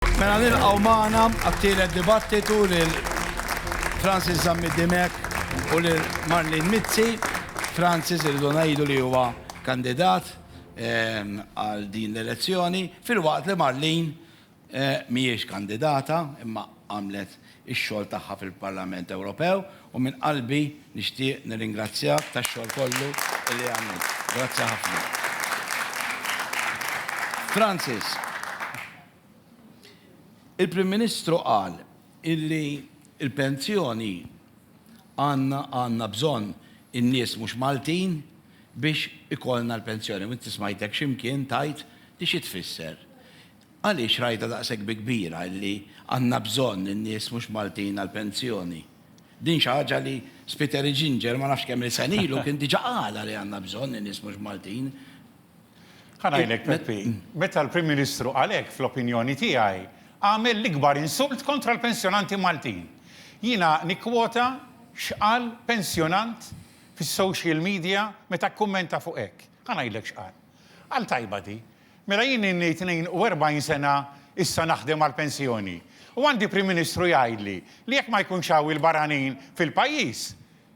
Mela nilqgħu magħna għat-tielet dibattitu lil Francis Zammit Dimech u lil Marlene Mizzi. Francis irridu ngħidu li huwa kandidat ehm, għal din l-elezzjoni, filwaqt li Marlene eh, mhijiex kandidata imma għamlet ix-xogħol tagħha fil-Parlament Ewropew u minn qalbi nixtieq nirringrazzjak tax-xogħol kollu li għamilt. Grazzi ħafna. Francis, il-Prim Ministru qal illi l-pensjoni għandna għandna bżonn in-nies mhux Maltin biex ikollna l-pensjoni u inti smajtek xi mkien tgħid li xi tfisser. Għaliex rajtha daqshekk bi kbira illi għandna bżonn in-nies mhux Maltin għall-pensjoni? Din xi ħaġa li Spiteri Ginger ma nafx kemm-il sena ilu kien diġà qalha li għandna bżonn in-nies mhux Maltin. Ħa ngħidlek Peppi, meta l-Prim Ministru qal hekk fl-opinjoni tiegħi għamel l-ikbar insult kontra l-pensjonanti Maltin. Jiena nikkwota x'qal pensjonant fis-social media meta kkummenta fuq hekk. Ħa ngħidlek x'qal. Qal tajba di, Mela jien ilni 42 sena issa naħdem għall-pensjoni u għandi Prim Ministru jgħidli li jekk ma jkunx hawn il-barranin fil-pajjiż,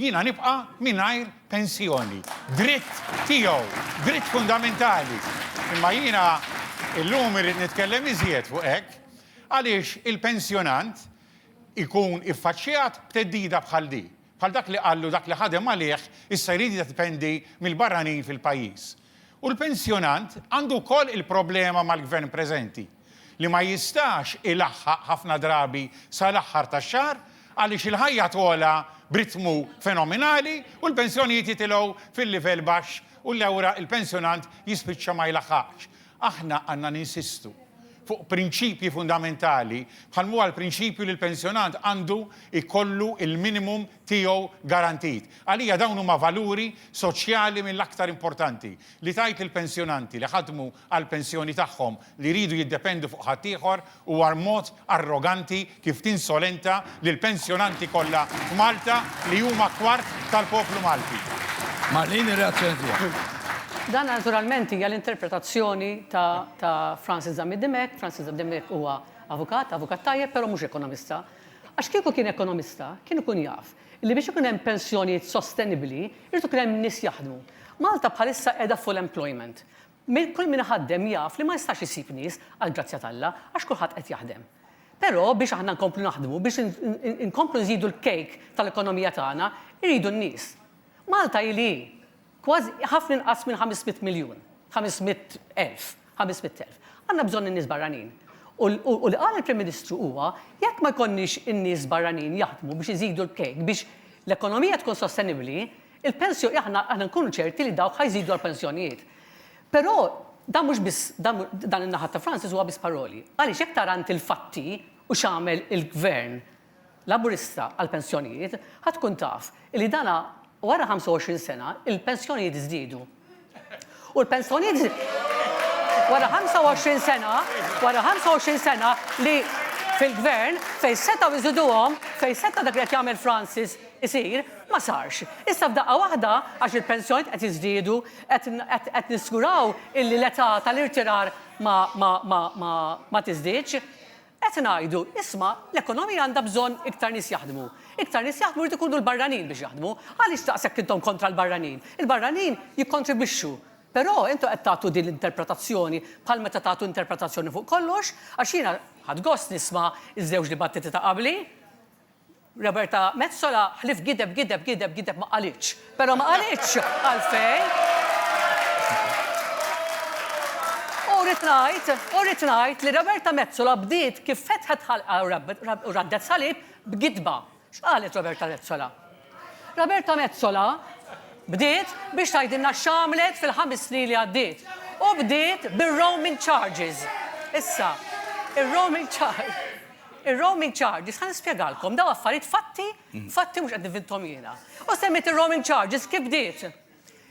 jiena nibqa' mingħajr pensjoni. Dritt tiegħu, dritt fundamentali. Imma jiena llum irrid nitkellem iżjed fuq hekk għaliex il-pensjonant ikun iffaċċjat b'theddida bħal din, bħal dak li qallu dak li ħadem għalih issa jrid jiddependi mill-barranin fil-pajjiż. U l-pensjonant għandu wkoll il-problema mal-Gvern preżenti, li ma jistax ilaħħaq ħafna drabi sal-aħħar tax-xahar għaliex il-ħajja togħla b'ritmu fenominali u l-pensjonijiet jitilgħu fil-livell baxx u lewra l-pensjonant jispiċċa ma jlaħħaqx. Aħna għandna ninsistu fuq prinċipji fundamentali bħal m'huwa l-prinċipju li l-pensjonant għandu jkollu l-minimum tiegħu garantit. Għalija dawn huma valuri soċjali mill-aktar importanti, li tgħid lill-pensjonanti li ħadmu għall-pensjoni tagħhom li jridu jiddependu fuq ħaddieħor huwa mod arroganti kif tinsolenta lill-pensjonanti kollha f'Malta li huma kwart tal-poplu Malti. Ma' din ir-reazzjoni tiegħek. Dan naturalment hija l-interpretazzjoni ta' Francis Zammit Dimech. Francis Zammit Dimech huwa avukat, avukat tajjeb, però mhux ekonomista. Għax kieku kien ekonomista, kien ikun jaf li biex ikun hemm pensjonijiet sostenibbli, irid ikun hemm nies jaħdmu. Malta bħalissa qiegħda full employment. Kull min iħaddem jaf li ma jistax isib nies, għall-grazzja t'Alla, għax kulħadd qed jaħdem. Però biex aħna nkomplu naħdmu, biex inkomplu nżidu l-cake tal-ekonomija tagħna, iridu n-nies. Malta hi li hi. Kważi, ħafna inqas minn ħames mitt miljun, ħames mitt elf, ħames mitt elf. Għandna bżonn in-nies barranin. U u li qal il-Prim Ministru huwa, jekk ma jkollniex in-nies barranin jaħdmu biex iżidu l-kejk, biex l-ekonomija tkun sostenibbli, il-pensjo, aħna aħna nkunu ċerti li dawk ħa jżidu għall-pensjonijiet. Però dan mhux biss, dan dan in-naħa ta' Francis huwa biss paroli. Għaliex jekk tara int il-fatti u x'għamel il-Gvern Laburista għall-pensjonijiet ħa tkun taf li dan wara 25 sena l-pensjonijiet żdiedu. U l-pensjonijiet wara 25 sena, wara 25 sena li fil-Gvern fejn setgħu jżiduhom, fejn seta' dak li qed jagħmel Francis isir, ma sarx. Issa f'daqqa waħda għax il-pensjonijiet qed jiżdiedu, qed niżguraw illi l-età tal-irtirar ma tiżdiedx. Qed ngħidu, isma', l-ekonomija għandha bżonn iktar nies jaħdmu. Iktar nies jaħdmu jrid ikunu l-barranin biex jaħdmu. Għaliex daqshekk intom kontra l-barranin? Il-barranin jikkontribwixxu. Però intom qed tagħtu din l-interpretazzjoni bħal meta tagħtu interpretazzjoni fuq kollox, għax jiena ħadt gost nisma' ż-żewġ dibattiti ta' qabli. Roberta Metsola ħlief gideb gideb gideb gideb ma qalitx. Però ma qalitx għalfejn. U rrid ngħid, u rrid ngħid li Roberta Metsola bdiet kif fetħet ħalqha u raddet salib b'gidba. X'qalet Roberta Metsola? Roberta Metsola bdiet biex tgħidilna x'għamlet fil-ħames snin li għaddiet. U bdiet bir-roaming charges. Issa, ir-roaming charges. Ir-roaming charges, ħa nispjegalkom, dawn affarijiet fatti, fatti mhux qed nivinthom jiena. U semmejt ir-roaming charges kif bdiet.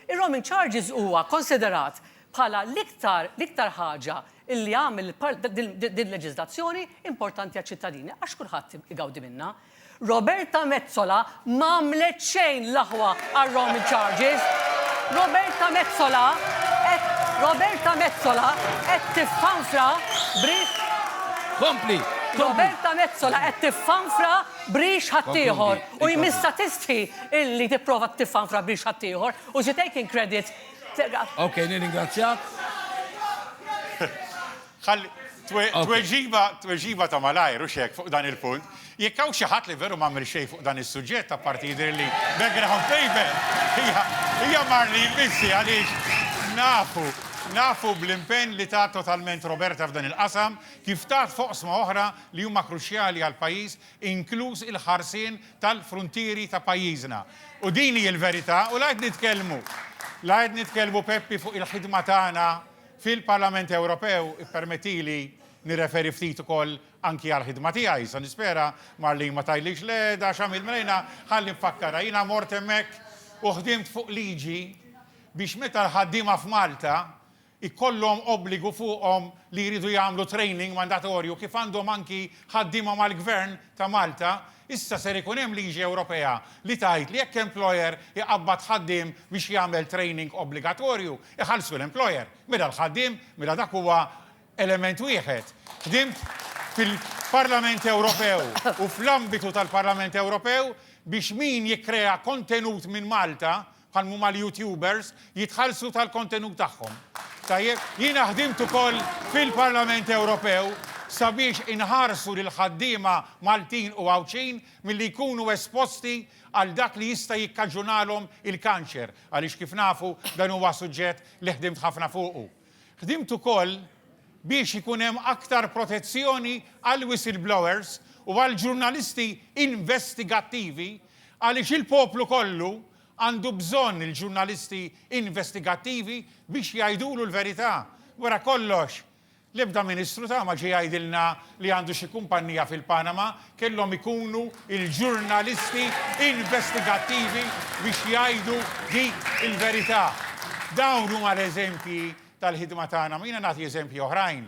Ir-roaming charges huwa konsiderat bħala l-iktar l-iktar ħaġa li għamel din il-leġiżlazzjoni importanti għaċ-ċittadini għax kulħadd igawdi minnha. Roberta Metsola m'għamlet xejn l-aħwa għar-roaming charges. Roberta Metsola qed Roberta Metsola qed tiffanfra b'rix Kompli, kompli. Roberta Metsola qed tiffanfra b'rix ħaddieħor u jmissha tistħi illi tipprova tiffanfra b'rix ħaddieħor u she taking credit. Okej, nirringrazzjak. Ħalli, tweġiba, tweġiba ta' malajr, hux hekk, fuq dan il-punt. Jekk hawn xi ħadd li veru m'għamel xejn fuq dan is-suġġett, apparti jidhirli background paper, hija, hija Marlene Mizzi għaliex nafu, nafu bl-impenn li tat totalment Roberta f'dan il-qasam, kif tat f'oqsma oħra li huma kruċjali għall-pajjiż, inkluż il-ħarsien tal-fruntieri ta' pajjiżna. U din hi l-verità u la qed nitkellmu, la qed nitkellmu Peppi fuq il-ħidma tagħna fil-Parlament Ewropew, ippermettili nirreferi ftit ukoll anki għall-ħidma tiegħi, sa nispera, Marlene ma tgħidlix, le, da x'għamilt Marina, ħalli nfakkarha, jiena mort hemmhekk u ħdimt fuq liġi biex meta l-ħaddiema f'Malta jkollhom obbligu fuqhom li jridu jagħmlu training mandatorju kif għandhom anki ħaddiema mal-Gvern ta' Malta, issa ser ikun hemm liġi Ewropea li tgħid li jekk employer iqabbad ħaddiem biex jagħmel training obbligatorju, Iħallsu l-employer, mela l-ħaddiem, mela dak huwa element wieħed. Ħdimt fil-Parlament Ewropew u fl-ambitu tal-Parlament Ewropew biex min jikkrea kontenut minn Malta, bħal m'huma l-YouTubers, jitħallsu tal-kontenut tagħhom. Tajjeb, jiena ħdimt ukoll fil-Parlament Ewropew sabiex inħarsu lill-ħaddiema Maltin u Għawdxin milli jkunu esposti għal dak li jista' jikkaġunalhom il-kanċer. Għaliex kif nafu, dan huwa suġġett li ħdimt ħafna fuqu. Ħdimt ukoll biex ikun hemm aktar protezzjoni għall-whistleblowers u għall-ġurnalisti investigattivi għaliex il-poplu kollu għandu bżonn il-ġurnalisti investigattivi biex jgħidulu l-verità. Wara kollox, L-ebda Ministru ta' ma ġie jgħidilna li għandu xi kumpannija fil-Panama, kellhom ikunu il-ġurnalisti investigattivi biex jgħidu dik il-verità. Dawn huma l-eżempji tal-ħidma tagħna, ma jiena nagħti eżempji oħrajn,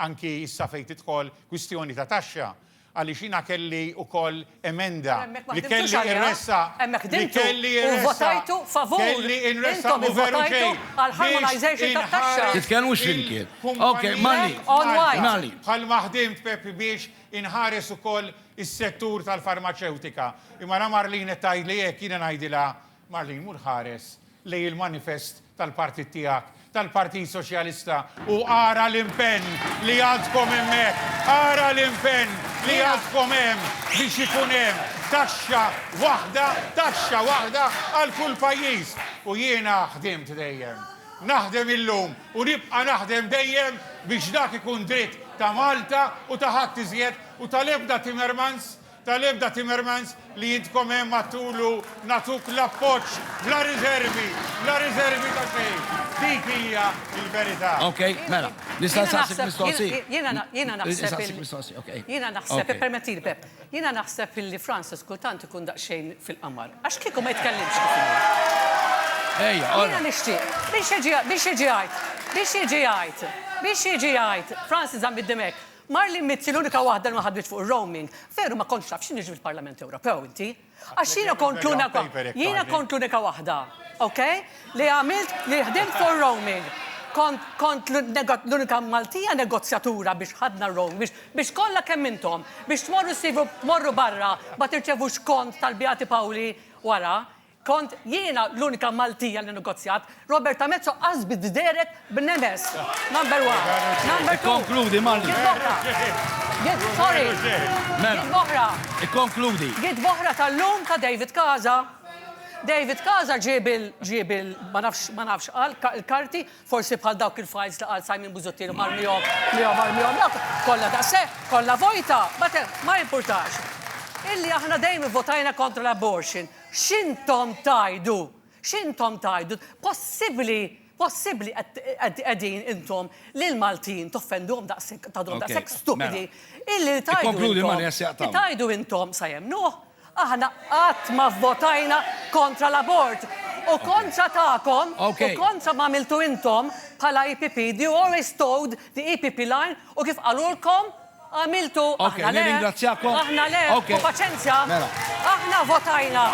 anki issa fejn tidħol kwistjoni ta' taxxa. Għaliex jiena kelli wkoll emenda li kelli nressaq, li kelli nressaq, kelli nressaq u veru ġej biex inħares il-kumpanija bħalma ħdimt Pepi biex inħares ukoll is-settur tal-farmaċewtika. Imma ara Marlene qed tgħidli hekk, jiena ngħidilha Marlene mur ħares lejn il-manifest tal-partit tiegħek, tal-Partit Soċjalista u ara l-impenn li għandkom hemmhekk, ara l-impenn li għandkom hemm biex ikun hemm taxxa waħda, taxxa waħda għal kull pajjiż. U jiena ħdimt dejjem, naħdem illum u nibqa' naħdem dejjem biex dak ikun dritt ta' Malta u ta' ħadd iżjed u tal-ebda Timmermans Tal-ebda Timmermans li intkom hemm għattulu nagħtuk l-appoġġ bla riżervi, bla riżervi ta' xejn. Dik hija l-verità. Ok, mela. Nista' nsaqsik mistoqsija? Jiena na, jiena naħseb. Insaqsik mistoqsija, ok. Jiena naħseb, ippermettili Pepp, jiena naħseb illi Francis kultant ikun daqsxejn fil-qamar. Għax kieku ma jitkellimx kif inhu. Ejja, all right. Jiena nixtieq, biex jiġi, biex jiġi jgħid, biex jiġi jgħid, biex jiġi jgħid, Francis żamm id-dim hekk. Marlene Mizzi, L-unika waħda li ma ħadmitx fuq ir-roaming. Veru ma kontx taf x'inhu jiġri fil-Parlament Ewropew inti? Għax jiena kont l-unika jiena kont l-unika waħda, ok, li għamilt li ħdimt fuq ir-roaming. Kont kont l-unika Maltija negozjatura biex ħadna r-roaming, biex biex kollha kemm intom, biex tmorru ssivu tmorru barra ma tirċevux kont tal-Beati Pawli wara. Kont jiena l-unika Maltija li negozjat. Roberta Metso qasbet b'Derek b'nemes. Number one. Number two. Ikkonkludi, Malli. Giet b'oħra. Giet, sorry. Mela. Giet b'oħra. Ikkonkludi. Giet b'oħra tal-lum ta' David Casa. David Casa ġieb il, ġieb il, ma nafx, ma nafx qal, il-karti, forsi bħal dawk il-files li qal Simon Busuttil u marmihom, miegħu marmihom dawk, kollha daqshekk, kollha vojta, but ma jimpurtax. Illi aħna dejjem ivvotajna kontra l-abortion. X'intom tgħidu? X'intom tgħidu? Possibbli, possibbli qed qegħdin intom lill-Maltin toffenduhom daqshekk, tagħduhom daqshekk stupidi illi li tgħidu intom, li tgħidu intom sa jemmnuh, aħna qatt ma vvotajna kontra l-abort u kontra tagħkom u kontra m'għamiltu intom bħala EPP, you always towed the EPP line u kif qalulkom, Għamiltu, aħna le. Nirringrazzjakom. Aħna le. Ħu paċenzja. Mela. Aħna votajna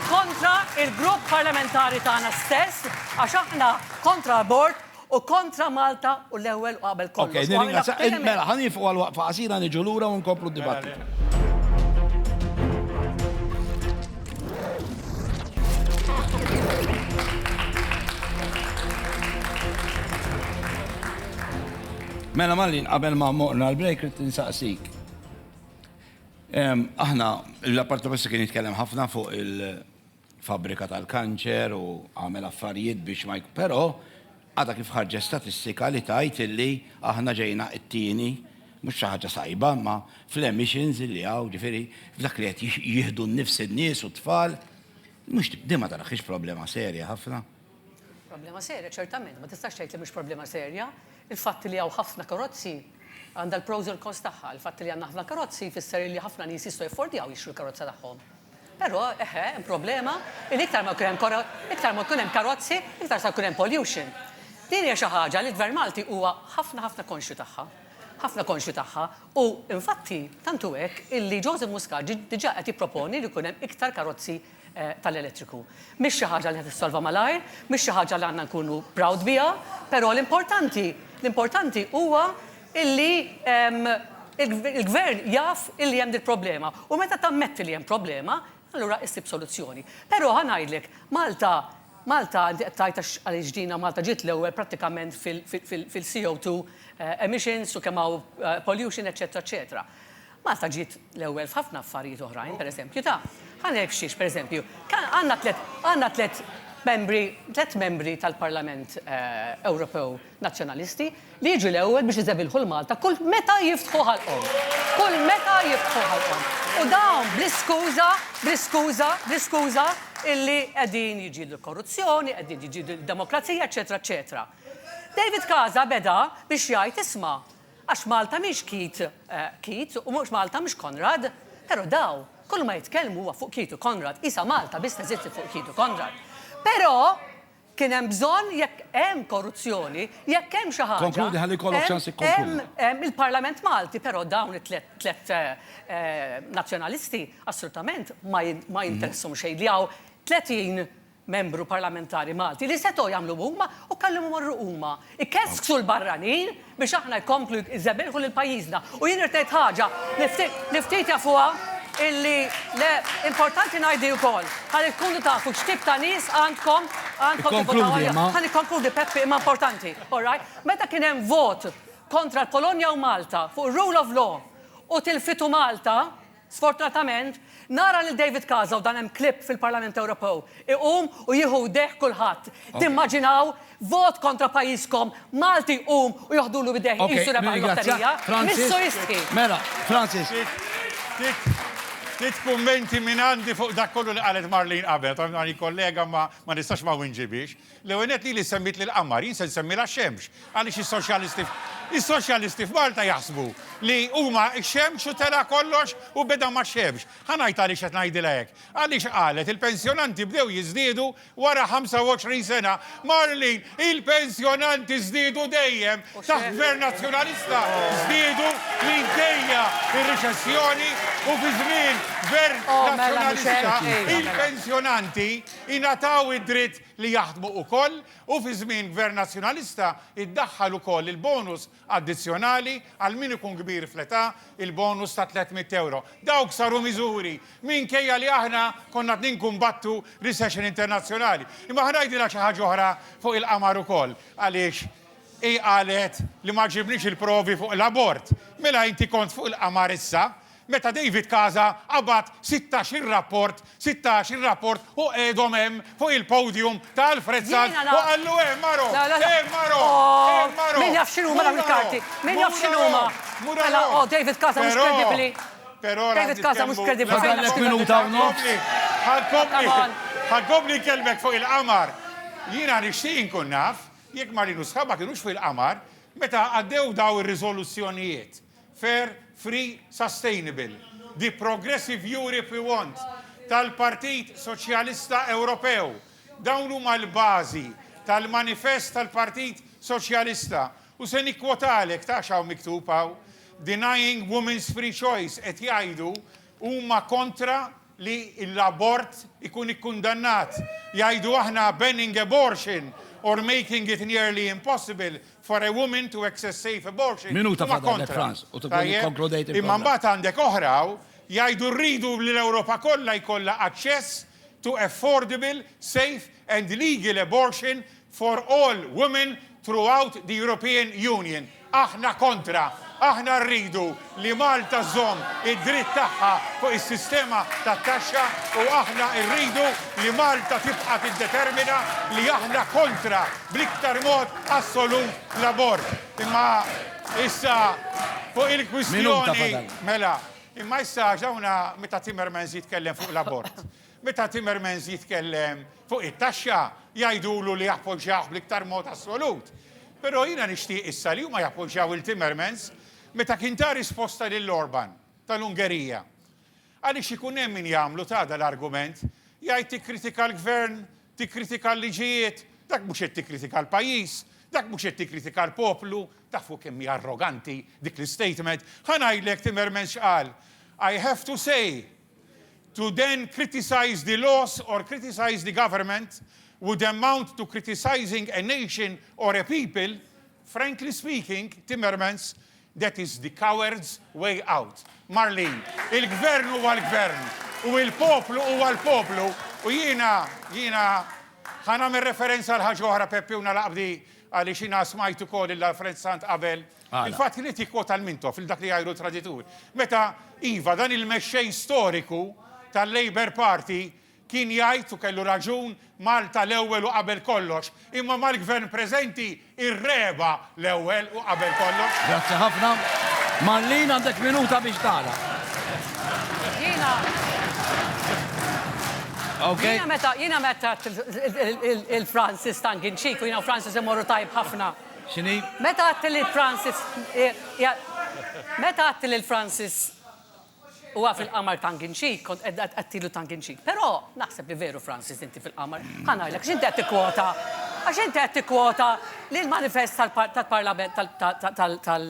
kontra il-grupp parlamentari tagħna stess għax aħna kontra abort u kontra Malta u l-ewwel u qabel kollox. Okej, nirringrazzja. Mela, ħa nieqfu għal waqfa qasira niġu lura u nkomplu d-dibattitu. Mela Malin, qabel ma morna l-break, rrit nsaqsik. Aħna, l-apparti basta kien jitkellem ħafna fuq il-fabrika tal-kanċer u għamel affarijiet biex ma jkun. Pero, għada kif ħarġet statistika li tajt illi aħna ġejna it-tieni, mux xaħġa sajba, ma fl-emissions illi għaw, ġifiri, f'dak li għet jihdu n-nifs n-nis u t-tfal, mux dima taraxix problema serja ħafna. Problema serja, ċertament, ma tistax tgħid li mhux problema serja. Il-fatt li hawn ħafna karozzi għandha l-pros u l-cons tagħha. Il-fatt li għandna ħafna karozzi jfisser li ħafna nies jistgħu jaffordjaw jixtru l-karozza tagħhom. Però, eħe, hemm problema li iktar ma jkun hemm karo- iktar ma jkun hemm karozzi, iktar se jkun hemm pollution. Din hija xi ħaġa li l-Gvern Malti huwa ħafna ħafna konxju tagħha. Ħafna konxju tagħha. U, infatti, tant hu hekk illi Joseph Muscat ġie diġà qed jipproponi li jkun hemm iktar karozzi tal-elettriku. Mhix xi ħaġa li se tissolva malajr, mhix xi ħaġa li għandna nkunu proud biha, però l-importanti, l-importanti huwa illi l-Gvern jaf illi hemm dil-problema u meta tammetti li hemm problema, allura issib soluzzjoni. Però ħa ngħidlek, Malta, Malta, inti qed tgħid għax għaliex ġina Malta ġiet l-ewwel prattikament fil-CO2 emissions u kemm hawn pollution, eċċetera, eċċetera. Malta ġiet l-ewwel f'ħafna affarijiet oħrajn, pereżempju, ta', ħa ngħidlek xiex, pereżempju, għandna tliet, għandna tliet membri, tliet membri tal-Parlament Ewropew Nazzjonalisti li jiġu l-ewwel biex iżebilħu 'l Malta kull meta jiftħu ħalqhom. Kull meta jiftħu ħalqhom. U dawn bl-iskuża, bl-iskuża, bl-iskuża illi qegħdin jiġġieldu l-korruzzjoni, qegħdin jiġġieldu d-demokrazija, eċċetera, eċċetera. David Casa beda biex jgħid, isma', Għax Malta mhix Keith, Keith, u mhux Malta mhux Konrad. Però daw, kull ma jitkellmu huwa fuq Keith u Konrad, qisha Malta biss teżisti fuq Keith u Konrad. Però, kien hemm bżonn, jekk hemm korruzzjoni, jekk hemm xi ħaġa, Konkludi ħalli jkollok ċans ikkonkludi. hemm, hemm, hemm il-Parlament Malti, però dawn it-tliet, tliet Nazzjonalisti assolutament ma ma jinteressahom xejn li hawn 30 Membru Parlamentari Malti li setgħu jagħmlu huma u kellhom imorru huma. Ikesksu l-barranin biex aħna jkomplu jżebbilħu lil pajjiżna. U jien irid ngħid ħaġa li ftit jafuha illi le importanti ngħidli wkoll ħalli tkunu tafu x'tip ta' nies għandkom għandkom tivvotaw għalihom. Ħa nikkonkludi Peppi imma importanti, all right? Meta kien hemm vot kontra l-Polonja u Malta fuq ir-rule of law u tilfitu Malta, Sfortunatament, nara lil David Casa u dan hemm clip fil-Parlament Ewropew, iqum u jieħu idejh kulħadd. Timmaġinaw vot kontra pajjiżkom, Malti jqum u joħdulu idejh iqisu rebaħ il-lotterija? Missu jistħi. Mela, Francis. Ftit kummenti mingħandi fuq dak kollu li qalet Marlene qabel. Għandi kollega ma nistax ma nwinġibhiex. L-ewwel nett lili semmitli l-qamar, jien se nsemmilha x-xemx, għaliex is-soċjalisti is-soċjalisti f'Malta jaħsbu li huma x-xemx u tela' kollox u beda max-xemx. Ħa ngħid għaliex qed ngħidilha hekk. Għaliex qalet il-pensjonanti bdew jiżdiedu wara 25 sena. Marlene, il-pensjonanti żdiedu dejjem, taħt Gvern Nazzjonalista żdiedu minkejja r-riċessjoni u fi żmien Gvern Nazzjonalista il-pensjonanti ingħataw id-dritt li jaħdmu ukoll u fi żmien Gvern Nazzjonalista iddaħħal ukoll il-bonus addizzjonali għal min ikun kbir fl-età, il-bonus ta' tliet mitt ewro. Dawk saru miżuri minkejja li aħna konna qed ninkumbattu recession internazzjonali. Imma ħa ngħidilha xi ħaġa oħra fuq il-qamar ukoll għaliex hi qalet li ma għaġibnix il-provi fuq l-abort. Mela inti kont fuq il-qamar issa Meta David Casa qabad sittax-il rapport, sittax-il rapport u qegħedhom hemm fuq il-podium ta' Alfred Sant u qallu eh Maro, eh Maro, eh Maro, mhu Maro, mhu Maro. Fair, Free, Sustainable, The Progressive Europe We Want tal-Partit Soċjalista Ewropew. Dawn huma l-bażi tal-manifest tal-Partit Soċjalista u se nikkwotalek ta' x'hawn miktub hawn, Denying women's free choice, qed jgħidu huma kontra li l-abort ikun ikkundannat. Jgħidu aħna banning abortion or making it nearly impossible for a woman to access safe abortion huma kontra. Tajjeb? Imma mbagħad għandek oħra hawn jgħidu rridu li l-Ewropa kollha jkollha aċċess to affordable, safe and legal abortion for all women throughout the European Union, aħna kontra, aħna rridu li Malta żżomm id-dritt tagħha fuq is-sistema tat-taxxa u aħna rridu li Malta tibqa' tiddetermina li aħna kontra bl-iktar mod assolut l-abort. Imma issa fuq il-kwistjoni mela, imma issa għax hawn meta Timmermans jitkellem fuq l-abort. Meta Timmermans jitkellem fuq it-taxxa, jgħidulu li jappoġġjawh bl-iktar mod assolut. Però jiena nixtieq issa li huma jappoġġjaw 'il Timmermans meta kien ta risposta lil Orban, tal-Ungerija. Għaliex ikun hemm min jagħmlu ta' dan l-argument, jgħid tikkritika l-Gvern, tikkritika l-liġijiet, dak mhux qed tikkritika l-pajjiż, dak mhux qed tikkritika l-poplu. Tafu kemm hi arroganti dik l-istatement? Ħa ngħidlek Timmermans x'qal, I have to say, to then criticize the laws or criticize the government would amount to criticising a nation or a people, frankly speaking, Timmermans, that is the coward's way out. Marlene, il-gvern huwa l-gvern u l-poplu huwa l-poplu u jiena, jiena, ħa nagħmel referenza għal ħaġa oħra Peppi u nagħlaq b'di għaliex jiena smajt ukoll il-Alfred Sant qabel Il-fatt li qed jikkwota l-Mintoff, lil dak li jgħajru l-traditur, meta, iva, dan il-mexxej storiku tal-Labour Party kien jgħid, u kellu raġun, Malta l-ewwel u qabel kollox, imma mal-Gvern preżenti r-Regħba l-ewwel u qabel kollox. Grazzi ħafna. Marlene għandek minuta biex tagħlaq. Jiena, jiena meta, jiena meta għedt il-Francis tongue in cheek, u jiena u Francis immorru tajjeb ħafna. X'inhi? Meta għadt li Francis Meta għadt li Francis huwa fil-qamar tongue in cheek, kont qed għadtilu tongue in cheek. Però naħseb li veru Francis inti fil-qamar. Ħa ngħidlek x'inti qed tikkwota. Għax inti qed tikkwota li l-manifest tal-Parlament tal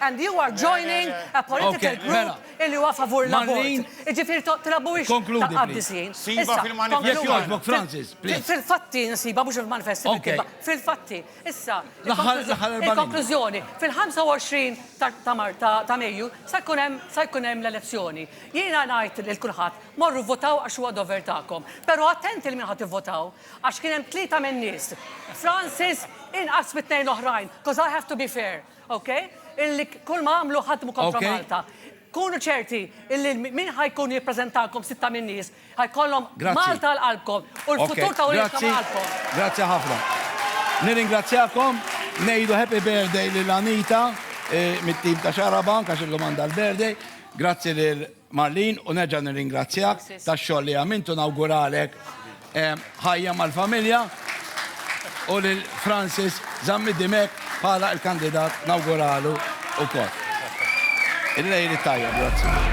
And you are joining a political group mela. illi huwa favur l-abort. Iġifieri trabuwix ta' qaddisjin. Siba fil-manifest. Francis, please. Fil-fatti nsiba mhux il-manifest fil-fatti. Issa, il-konklużjoni, fil-25 ta' Mejju sa jkun hemm l-elezzjoni. Jiena ngħid lil kulħadd morru votaw għax huwa dover tagħkom. Però attenti li min ħadd ivvotaw għax kien hemm tlieta min-nies. Francis inqas mit-tnejn l-oħrajn, because I have to be fair. Ok, illi kull ma għamlu ħadmu kontra Malta. Kunu ċerti illi min ħajkun jippreżentalkom sitta minn nies ħajkollhom Malta għal qalbkom u l-futur ta' uliedkom għal qalbkom. Grazzi ħafna. Nirringrazzjakom, ngħidu happy birthday lil Anita mit-tim ta' Xarabank għax illum għandha l-birthday. Grazzi lil Marlene u nerġa' nirringrazzjak tax-xogħol li għamilt u nawguralek ħajja mal-familja u lil Francis Zammi Dimech bħala l-kandidat nawguralu wkoll. Il-lejl it-tajjeb, grazzi.